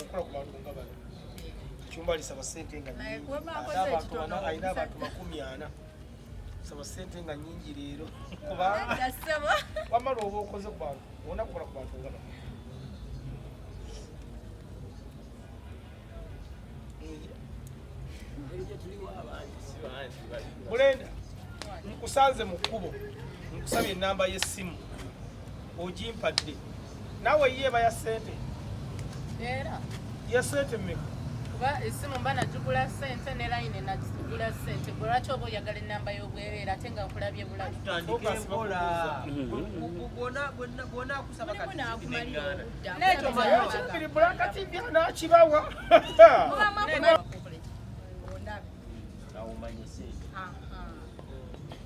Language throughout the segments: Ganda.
okukola ku bantu nga bano ekyumba lisaba sente nga alina abantu makumi ana saba sente nga nyingi leero kubanga wamala oba okoze ku bantu olina kukola ku bantu nga bano mulenda nkusanze mu kkubo nkusabye enamba y'essimu ogimpadde nawe yeeba ya sente era ya sente mmeka kuba esimu mba nagigula sente ne layini nagigula sente gwe lwaki oba oyagala ennamba y'obwereera ate nga nkulabye bulabi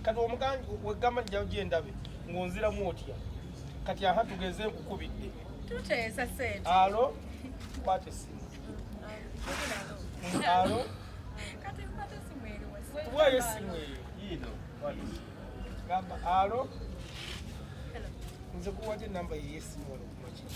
kati omuganji wegamba njawo gyendabe ng'onziramu otya kati aha tugeze nkukubidde tuteesa sente alo kwata essimu alo kati nkwata essimu eri tuwayo essimu eyo yiino gamba alo nze kuwaja enamba yeyesimu wano kumakiri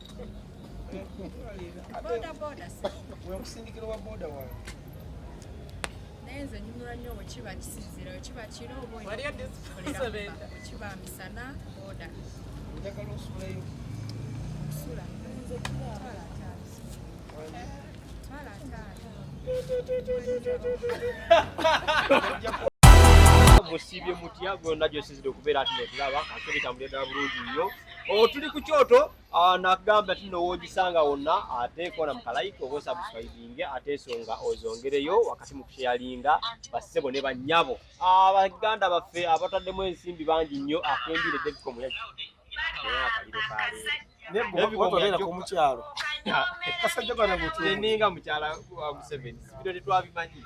wekusindikira wa boda wange naye nze nyumira nnyo wekiba kisinzira wekiba kiro obawekiba misana boda njagala osulayo okusula twala ataano musibye mutya gonna gyosizidde okubeera ati netulaba ate bitambulira ddala bulungi nnyo Oh, tuli ku kyoto ah, nakugamba ti nowogisanga wonna ate kona mukalayika oba osabuswaibinge ate esonga ozongereyo wakati mu kusheyalinga bassebo ne bannyabo ah, baganda baffe abataddemu ensimbi bangi nnyo akembire ah, deviko muyaki omukyalo kasajjaninga mukyala wa museveni sibino tetwabimanyi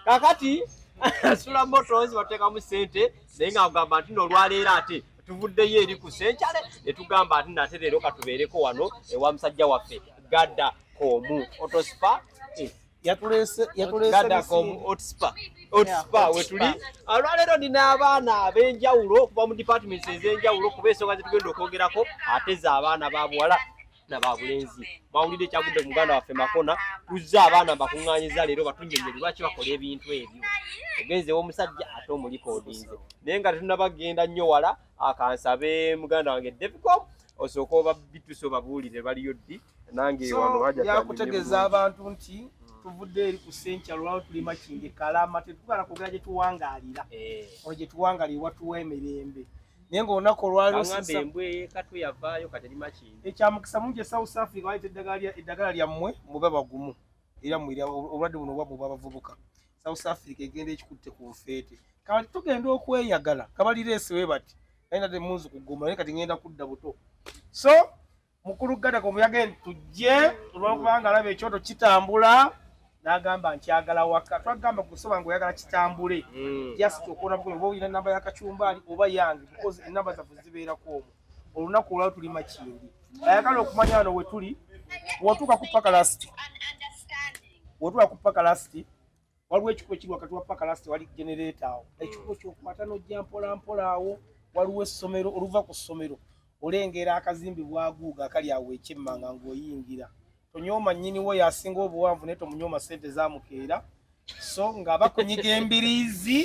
kakati sula motos bateekamu sente naye nga agamba nti nolwaleero ate tuvuddeyo eri ku senkyale ne tugamba ati nate leero katubeereko wano ewa musajja waffe gada komu otospa eh, wetuli olwaleero nina abaana ab'enjawulo okuva mu departments ez'enjawulo kuba ensonga zetugenda okwogerako ate za abaana babuwala na babulenzi bawulidde ekyagudde muganda waffe makona tuzze abaana mbakuŋŋanyiza leero batunyonyo lwaki bakola ebintu ebyo ogenze womusajja ate omulikodinze naye nga tetunabagenda nnyo wala akansabe muganda wange devicom osooka oba bitusa obabuulire baliyo ddi nange wano yakutegeeza abantu nti tuvudde eri ku senkya lwala tulima kinge kalama tetugala kwogera gye tuwangaalira eh. olwo gye tuwangaalira watuwa emirembe naye nga olunaku olwalioekyamukisa mungi e south africa bayita eddagala lyammwe mube bagumu era mwira obulwadde buno bwabwe bwabavubuka south africa egenda ekikutte ku nfeete kati tugenda okweyagala kabalireesewe bati naye nade munzi kugoma naye kati ngenda kudda buto so mukulu gadako muyage nti tujje olwokubanga alaba ekyoto kitambula nagamba nti agala waka twagamba kusoba nga oyagala kitambule hmm. just okuona bukomi oba olina enamba yakacumbaali oba yange because enamba zaffe zibeerako omu olunaku olwao tuli makindi ayagala okumanya wano wetuli wotuuka kupaka lasiti wotuuka kupaka lasiti waliwo ekikubo ekiri wakati wa paka last wali genereeta awo hmm. ekikubo kyokwata nojja mpolampola awo waliwo essomero oluva ku ssomero olengera akazimbi bwaguuga akali awo ekyemmanga ngaoyingira tonyooma nnyiniwo yasinga obuwanvu naye tomunyooma sente zamukeera so nga bakunyiga embiriizi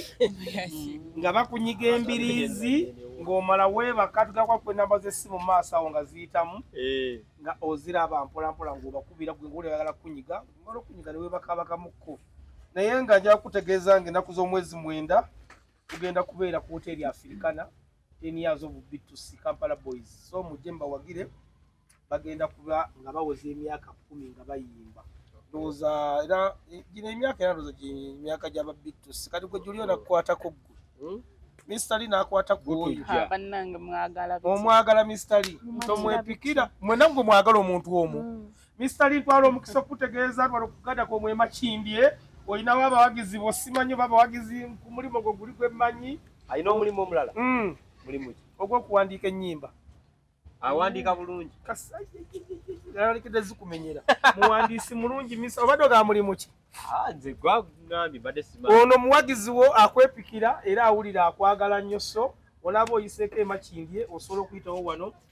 nga bakunyiga embiriizi ng'omala weebaka tugakwakwa enamba z'essimu mu maaso awo nga ziyitamu eh. nga oziraba mpolampola ng'obakubira gwe ngaolyagala kukunyiga omala okunyiga ne webakaabakamuko naye nga nja kukutegeeza nga ennaku z'omwezi mwenda tugenda kubeera ku woteeri afirikana ten years of btc kampala boys so mujje mbawagire bagenda kuba nga bawoza emyaka kumi nga bayimba ndowooza era eh, gino emyaka era ndowooza emyaka gyaba btc kati gwe juli onakukwatako ggwe hmm? Mr. Lee nakwata kuoyo omwagala Mr. Lee tomwepikira mwena mwe mwagala omuntu omu mm. Mister Lintwala omukisa okutegeeza twala okugada kwa mwe machimbye oyina wa bawagizi bosimanyo baba wagizi kumulimu gwo guli gwe manyi ayina omulimu omulala mm mulimu ki ogwo kuwandiika ennyimba awandiika bulungi kasayikide zikumenyera muwandiisi mulungi misa obadde oga mulimu ki ah, nze gwagambye mbadde simanyi ono muwagizi wo akwepikira era awulira akwagala nnyo so olaba oyiseko emachimbye osobola okuyitawo wano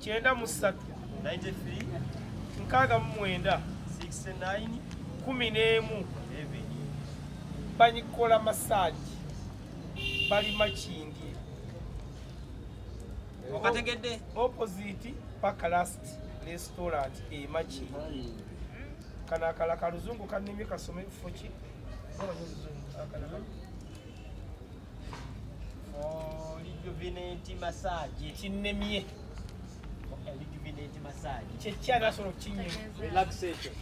kyenda mu ssatu nkaaga mu mwenda kumi n'emu banyikola masaagi bali makindye okategedde opposite paka last restaurant emaki kana akala kaluzungu kanimye kasome kifo ki lijuvineti masaje kinnemye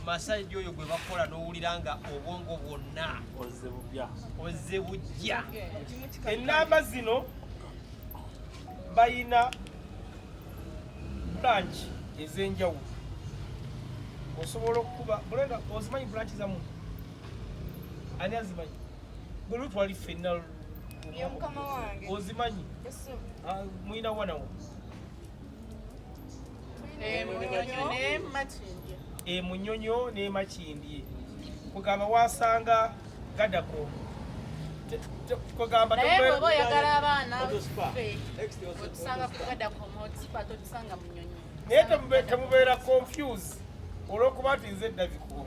masaji oyo gwe bakola n'owulira nga obwongo bwonna ozze bujja ennamba zino bayina branch ez'enjawulo osobola okukuba ozimanyi branch zamu ani azimanyi Gulu twali fenna ya mukama wange ozimanyi ah, mwina wana wo emunyonyo eh, nemakindye kugamba wasanga gadako kugamba naye oba oyagala abaana otusanga kugadako motsipa totusanga munyonyo naye temubeera confuse olwokuba nti nze daviku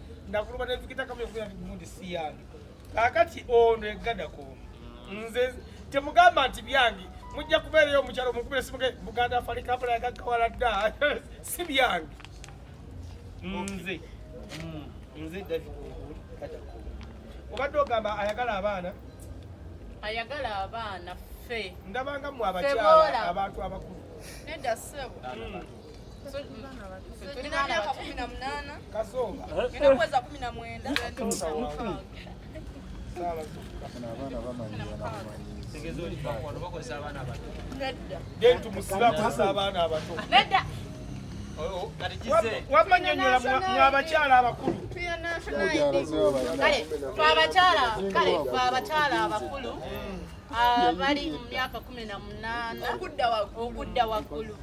nakuluba nevikita kamu yokubira nti gundi si yange kakati ono egada komu nze temugamba nti byange mujja kubeerayo omukyalo omukubira simuge buganda afali kampala yagagawala dda si byange nze mm. nze davigadako obadde ogamba ayagala abaana ayagala abaana ffe ndabanga mwe abakyala abantu abakulu nedda sebo mm. wamanyonyola mwabakyala abakulu abakyala abakulu abali mu myaka kumi na munaana okudda waggulu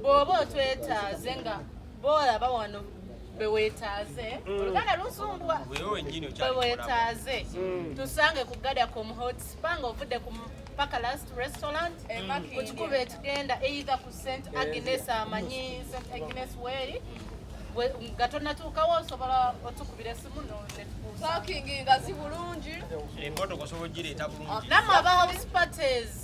bw'oba otwetaaze nga boolaba wano bewetaaze mm. oluganda lusumbwa bewetaaze mm. tusange ku gadacom hot spa nga ovudde ku paka last restaurant kukikuba eh, etugenda either ku st eh, agnes amanyi st agnes weri nga tonatuukawo osobola otukubira esimu netukuusakingi ngazi bulungi emmotoka osobola ogireeta bulungi namwe aba house parties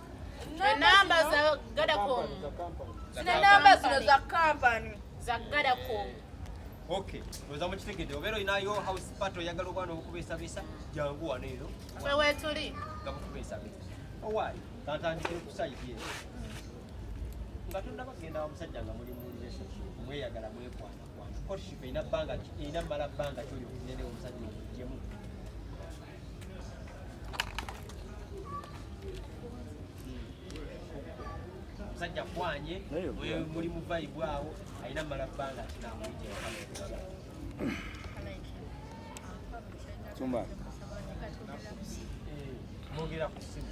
enamba za gadacom zino enamba zino za kampani za gadacom Okay. Oza mukitegede obero inayo house part oyagala obwana obukubesa bisa jangu wano eno. Kwe wetuli. Nga bukubesa bisa. Owali. Tatandikire kusayidie. Nga tundaba kugenda wa musajja nga muli mu relationship mweyagala mwekwana kwana. Courtship ina banga ina mala banga kyo yo kunene omusajja okujemu. musajja kwanye muli mu vibe awo alina mala bbanga kinamwogera ku simu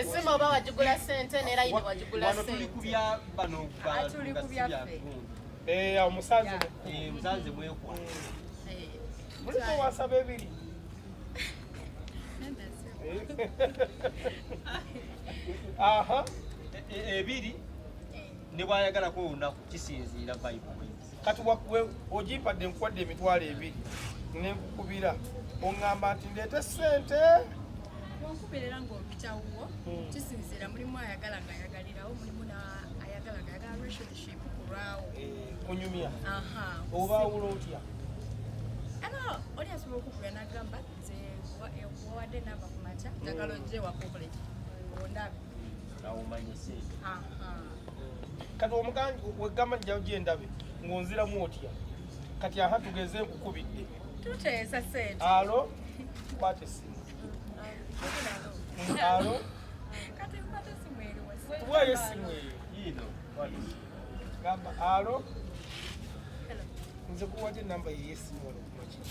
esimu oba wagigula sente nera yini wagigula omusanze mwekwa muliko wasaba ebiri aha ebiri ne bwayagalako olunaku kisinziira bayibuli kati ogimpadde nkuwadde emitwalo ebiri nenkukubira oŋŋamba nti ndeete ssente onkubeerera ng'ompitawuwo hmm. kisinziira mulimu ayagala nga ayagalirawo mulimu ayagala nga ayagala relationship kulwawo eh, kunyumya obaawula otya ano oli asobola okugula nagamba nze wawadde namba ku makya njagala ojje wakokoleki ondabe kati omuganji wegamba njawo gyendabe ng'onziramu otya kati aha tugeze nkukubidde tuteesa sente alo kwata essimu alo kati nkwata essimu eri tuwayo essimu eyo yiino gamba alo nze kuwajo enamba yeyesimu ono kumakiri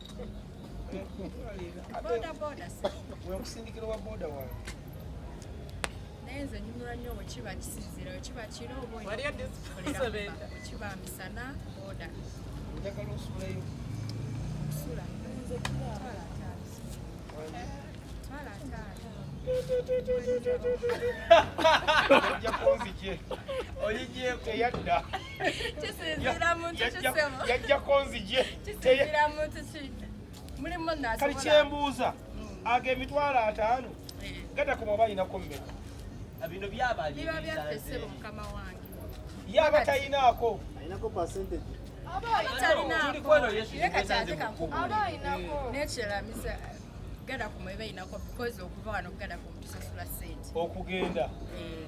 wekusindikira wa boda wange naye nze nyumira nnyo wekiba kisinzira wekiba kiro obawekiba misana boda njagala osulayo okusula twala ataano ojja kunzije oyijeko yadda yajjako nzije kali kyembuuza mm. ago emitwalo ataano eh. gata ku mwaba ayinako mmeka ah, bino yaba tayinaako okugenda eh.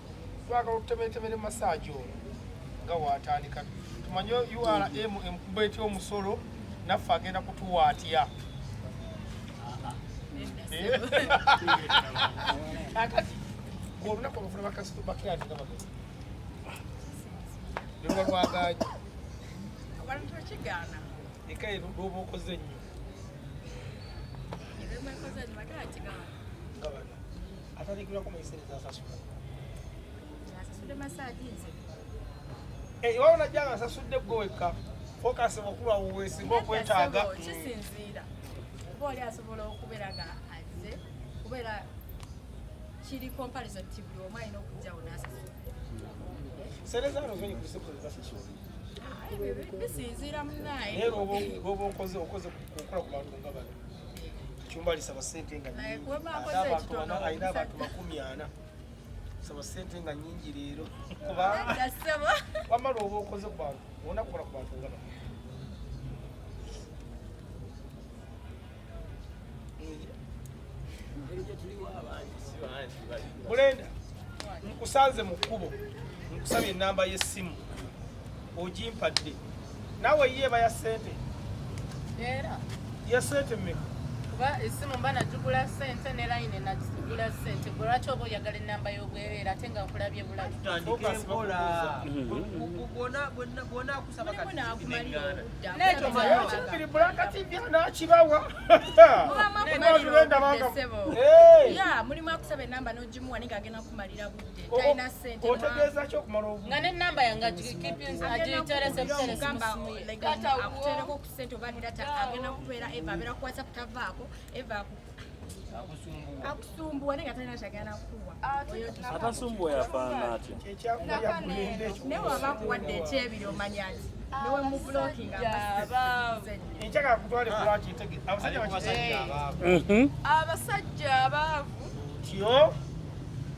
twagala okutebeetebeera masaagi ono nga waatandika tumanye ura emkuba ety omusolo naffe agenda kutuwa atya akati olunaku olufuna bakasitobakirati nga bagezi lweluba lwagaanyi abantu bakigaana ekaye lwoba okoze nnyo nga bana Atandikirako muyisere zasasula. Zasasula masaji nze. Eh, iwawo najja nga asasudde gwe wekka. Focus mukulu awo weesinga okwetaaga. Kisinziira. Kuba oli asobola okubeera nga azze kubeera kiri comparison ti buli omu alina okujjawo n'asasula. Sereza no zonyi kulise kwe zasasula. Bisinziira munaaye. Era oba okoze okukola ku bantu nga bano. Chumbali saba sente nga nyingi. Aina batu makumi ana. Saba sente nga nyingi lero. Kuba. Gasaba. Wama robo okoze kwa. Ona kora kwa ngaba. Mulenda nkusanze mu kkubo nkusabye ennamba y'essimu ojimpadde nawe yeeba ya sente era ya sente mmeka kuba esimu mba nagigula sente ne layini nagigula sente gwe lwaki oba oyagala ennamba y'obwereere ate nga nkulabye bulabi mulimu akusaba enamba nogimuwa naye ngagenda kumalira budde talina sente otegeeza ki okumala obu nga ne namba yange agiterese kuteresimugamba legata okutereko ku sente oba nedata agenda kubeera eva abeera kuwasa kutavaako eva akusumbuwa naye nga talina kyagenda kukuwa atasumbuwa yafaana atya naye waba akuwadde ekyebiri omanya nti abasajja abaavu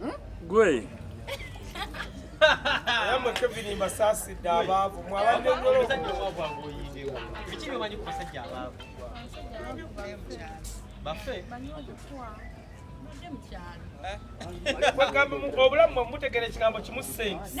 Hmm? Gwe. Yamwe Kevin Masasi dabavu mwabande nyolo. Bichi bimanyi ku basajja abavu. Bafe. Eh? Obulamu mutegeera ekigambo kimu sente.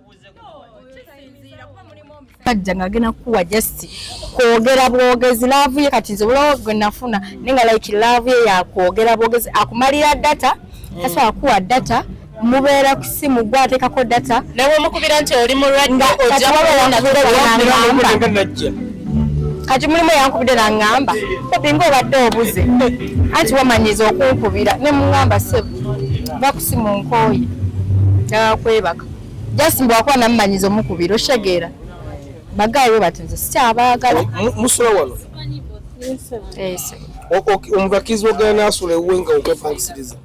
kajja nga agenda kukuwa just kwogera bwogezi laavu ye kati nze bulawo gwe nafuna naye nga like laavu ye yakwogera bwogezi akumalira data tasobola mm. kukuwa data mubeera ku simu gwe ateekako data nawe omukubira nti oli mulwadde ojakubeera kati mulimu yankubidde nangamba obinga obadde obuze anti wamanyiza okunkubira ne mungamba sebo bakusimu nkooye nakwebaka just mbu akuba namumanyiza omukubira okitegeera bagayi we bati nze sikyabaagala musula wano omuntu akkirizibwa ogenda naasula ewuwe nga okwepangisiriza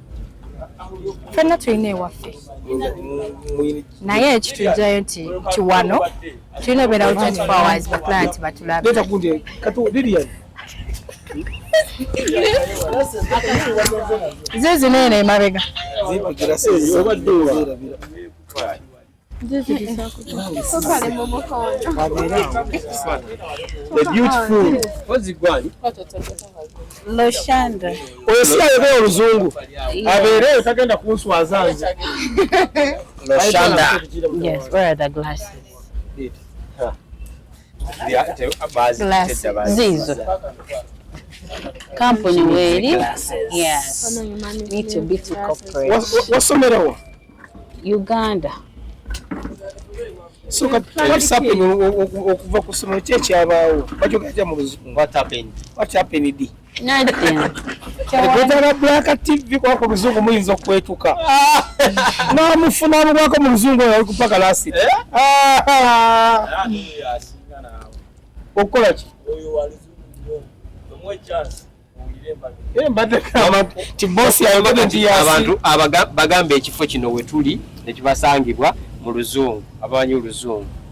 fenna tulina ewaffe naye ekitujjayo nti kiwano tulina obeerawo 24 hours baclient batulabe zizino eno emabega loshanda oyo si ayogera oluzungu abeereyo tagenda kunswaza nze loshanda yes where are the glasses ziizo kampuni weeri wasomerawa uganda so okuva ku ssomero ki ekyabaawo bakyogera kya mu luzungu what happened Ogwetaaga Black TV kuba ku luzungu muyinza okwetuka namufuna mubwako mu luzungu oyo alikupa kalasi eh? okukola ki abantu bagamba ekifo kino wetuli nekibasangibwa mu luzungu abamanyi oluzungu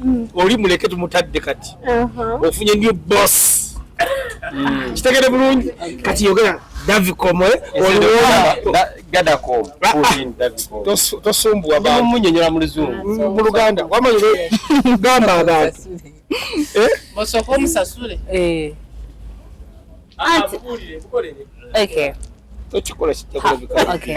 mm. oli muleke tumutadde kati ofunye new boss mm. kitegede bulungi kati yogera davicomo tosumbwamunyonyola muluzungu mu luganda wamanyire gamba abantu eh? osooka omusasule eh. ah, ah, Okay. Don't you call us? Okay.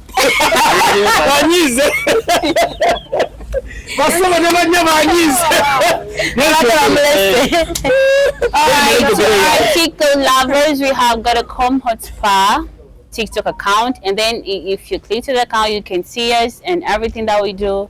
banyize basoma ne banya banyize TikTok lovers, we have got a Comhot Spa TikTok account, and then if you click to the account, you can see us and everything that we do.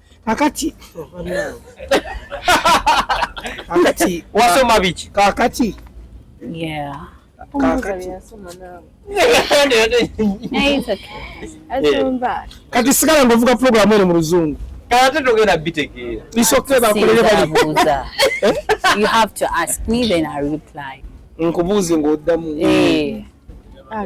kakati kakati wasoma biki kakati yeah kati sigala nga ovuga pulogulamu eno mu luzungu kati tugenda bitegeera isoke bakolere balibuuza eh? you have to ask me then i reply nkubuuze ng'oddamu eh. ah,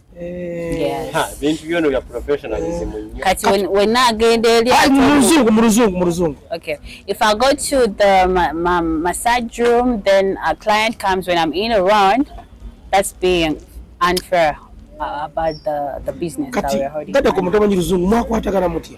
Eh, bintu byona bya professionalism eh. nnyo kati wenna agenda eri mu luzungu mu luzungu mu luzungu okay if i go to the ma, ma, massage room then a client comes when i'm in around that's being unfair uh, about the, the business kati, that we're holding kati kati kumutomanyi luzungu mwakwatagana mutya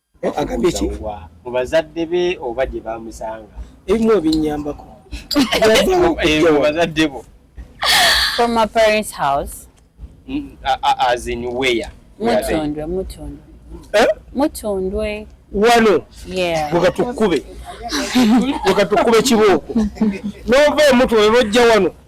Okubuuza wa? Mu bazadde be oba gye baamusanga? Ebimu ebinnyambako. Mu bazadde bo? From my parents house. Mm, as in where? Mutundwe, Mutundwe. Eh? Mutundwe. wano weka tukube weka tukube kibooko nova omutu webojja wano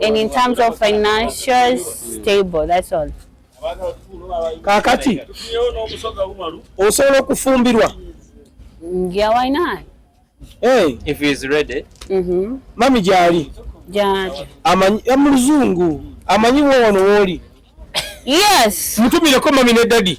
and in terms of financial stable that's all kakati osobola okufumbirwa yeah why not hey. if he is ready mm -hmm. mami gyali gyali amanyi amuluzungu amanyi wowono wooli yes mutumireko mami ne daddy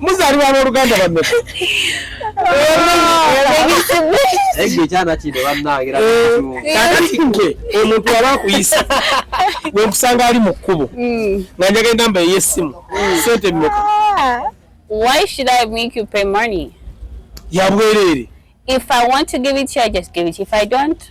muzalibwa aboluganda bameka omuntu aba akuyisa wenkusanga ali mu kkubo nga njaga enamba eyesimu sente meka yabwereere If I want to give it to you, I just give it. If I don't,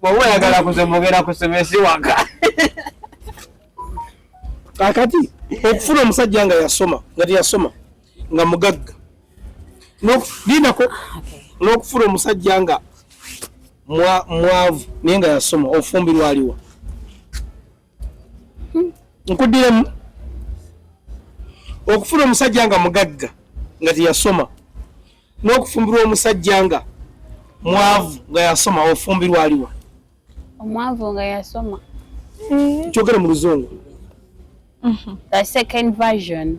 bwoba oyagala kuzemugera ku semesi waka kakati okufuna omusajja nga yasoma nga teyasoma nga mugagga linako ah, n'okufuna omusajja nga mwavu naye nga yasoma ofumbirwa aliwa nkuddiremu okufuna omusajja nga mugagga nga teyasoma n'okufumbirwa omusajja nga mwavu nga yasoma ofumbirwa aliwa omwavu nga yasoma kyogere mu luzungu the second version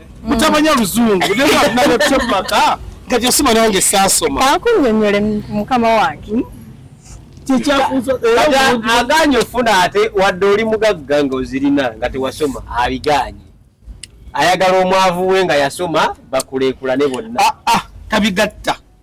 mutamanya luzungu naetemaka nga gyesoma nange saasoma akunyonyole mukama wange hmm? aganye ofuna ate wadde oli mugagga nga ozirina nga tewasoma abiganye ayagala omwavu we nga yasoma bakulekulane bonna ah, ah, tabigatta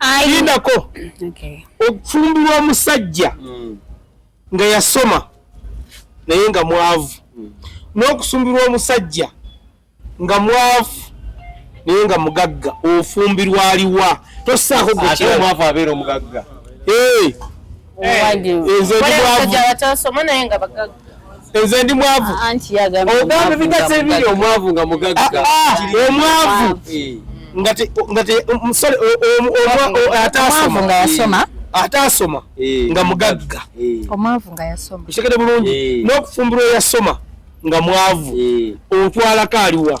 ayinako okufumbirwa omusajja hmm. nga yasoma naye nga mwavu hmm. n'okusumbirwa omusajja nga mwavu naye nga mugagga ofumbirwa aliwa tosaako gwekyamwavu abeera omugagga eh. nze ndi mwavu ogamba ebigatsi ebiri omwavu nga mugagga ah, ah, omwavu ngaataasoma ataasoma eh, nga mugagga eh. omwavu nga yasoma kitegede bulungi eh. n'okufumbirwa yasoma nga mwavu otwalako aliwa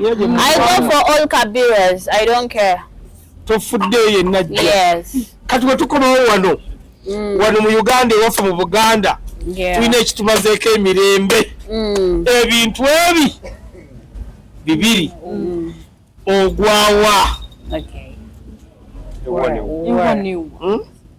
I go for all Kabiras. I don't care. Tofudde yenna jja. Yes. Kati bwe tukomawo wano. Mm. Wano mu Uganda ewaffe mu Buganda. Yeah. Tulina ekitumazeeko emirembe. Mm. Ebintu ebi bibiri. Mm. Ogwawa. Okay. Ewanewa. Ewanewa. Hmm?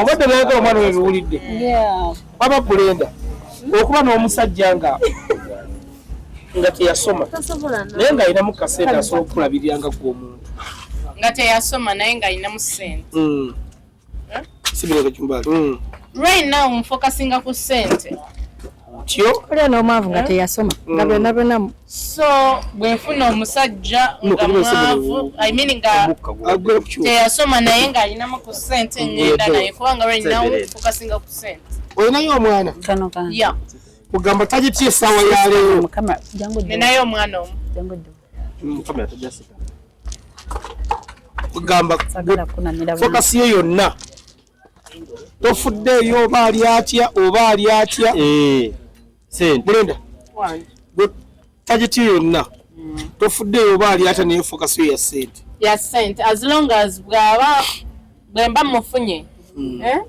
obadde nayagala omwana we biwulidde baba kulenda okuba n'omusajja nga nga teyasoma naye nga alinamu kasente asobola okukulabirira nga gwe omuntu nga teyasoma naye nga alinamu sente hmm. sibirekacumbali hmm. right now nfokasinga ku sente otyo olya n'omwavu nga eh? teyasoma mm. nga byonna byonna so bwenfuna omusajja nga mwavu imean nga teyasoma naye ng'alinamu ku sente ngenda naye kubanga lwalinawo kukasinga ku sente olinayo omwana ya ogamba tagitya essaawa ya leero ninayo omwana omu ogamba fokasi ye yonna tofuddeeyo oba ali atya oba ali atya eh, bulenda tagiti yonna mm. tofuddeeyo oba ali atya naye fokasi yo ya sente ya sente as long as bwaba bwemba mufunye mm. eh?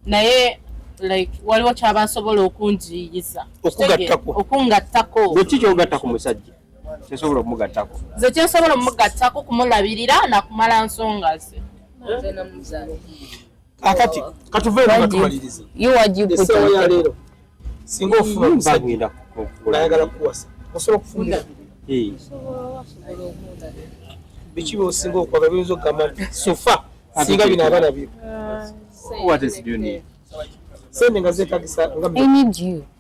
naye like waliwo kyaba asobola okunjiyiza okugattako okungattako bwekki kyogatta ku musajja kyesobola omugattako ze kyesobola omugattako kumulabirira nakumala nsonga ze akati katuve era tumaliriza you what you put on ya lero singa ofuna bagenda kukula ayagala kuwasa osobola okufunda eh biki bosinga okwaga biyinza okugamba nti sofa singa bino abana byo what is do you need sente nga zetagisa nga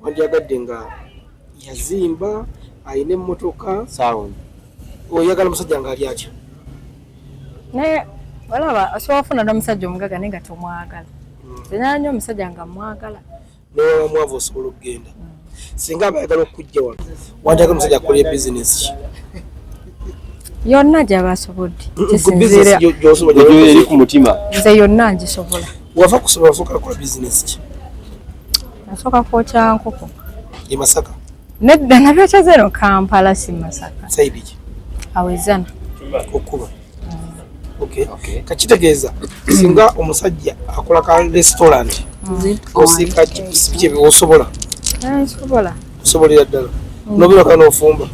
wandyagadde nga yazimba alina emmotoka sound oyagala omusajja ng'ali atya naye olaba osobola ofuna n'omusajja omugaga naye nga tomwagala hmm. enyala nyo omusajja nga mwagala newamwavu osobola okugenda hmm. singa abayagala okujja wano wanjagala omusajja akolye bizinesi ki yonna gyaba asobodde kisinziiraeri ku mutima nze yonna ngisobola wava kusobola soka akola bizinesi ki nasoka kwokya nkoko e masaka nedda nabyokya zero kampala si masaka saidi ki awezana okukuba kakitegeeza singa omusajja akola ka restaurant osiika kyebiwosobola osobolera ddala mm. nobeera kana ofumba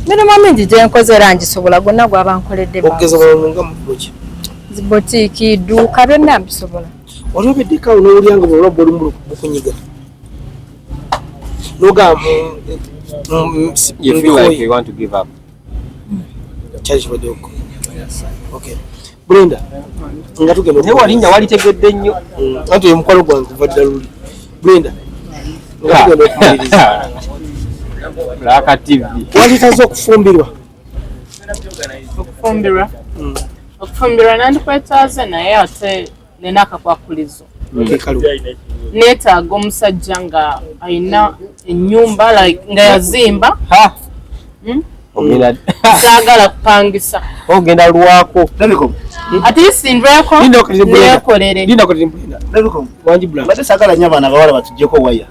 mirimu mingi gyenkoze era ngisobola gonna gwaba nkoledde okugeza nga mubuki zibotiki duuka byonna mbisobola wali obeddeka nowulira nga bwola bwoli mukunyiga nogamba mm, mm, brenda nga tugenda naye walinnya walitegedde nnyo mm. anti oyo mukwalo gwange kuva dda luli brenda nga tugenda okumaliriza laka tv walitaza okufumbirwa okufumbirwa mm. okufumbirwa nandikwetaaze naye ate nina akakwakulizo neetaaga omusajja nga alina enyumba like nga yazimba hmm? saagala kupangisa ogenda lwako atisindwekolerewanjibulaate saagala nyo abaana bawala batujeko waya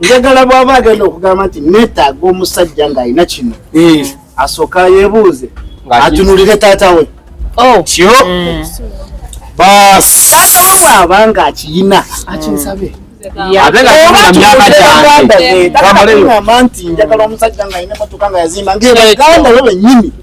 njagala bwaba agenda okugamba nti netaaga omusajja ng'alina kino eh. asooka yebuuze atunulire taata we oh. kyo mm. basaata we bwaba nga akiyina akinsabe abeaaamba nti njagala omusajja ng'alina motoka nga yazimba ngaebaganda we benyini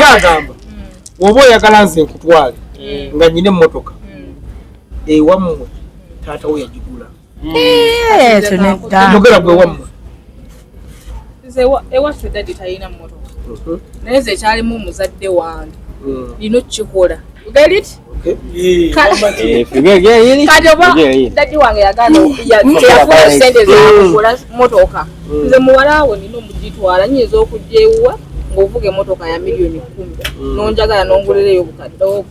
yagamba oba oyagala nze nkutwale mm. nga nyina emotoka mm. ewammwe taata wo yagigula mm. eh, yogera gwe wammwe ewaffe dadi talina motoka mhm. naye nze ekyalimu omuzadde wange lino kukikola kati oba dadi wange yaganayafuula sente zakugula motoka nze muwalawo nina omugitwala nyinza okujja ewuwa ngaovuga emotoka ya miliyoni kumi mm. nonjagala nongulira eyo obukadde obwo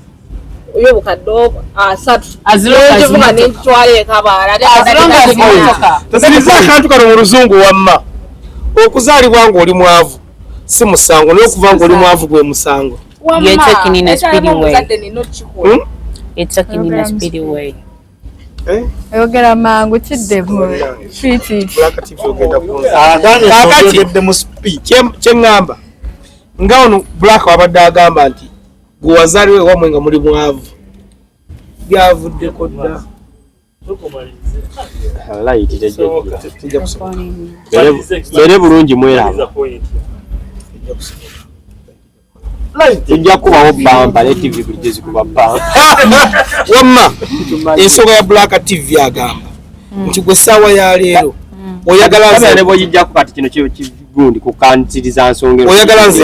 yo obukadde obwo asatu azivuga nentwala ekabaalategeeza akantu kano mu luzungu wamma okuzaalibwa ngaoli mwavu si musango naye okuva ngaoli mwavu gwe musango You're talking in a speedy way. Hmm? You're talking in a speedy way. Eh? ayogera mangu kiddemu kyeŋŋamba nga ono black wabadde agamba nti gwe wazaliwo ewamwe nga muli mwavu byavuddeko dda bere bulungi mweraba ejja kubawo bamba ne tv buli gyezikuba bamba wamma ensonga ya black tv agamba mm. nti gwe saawa ya leero mm. oyagala nze oyagala nze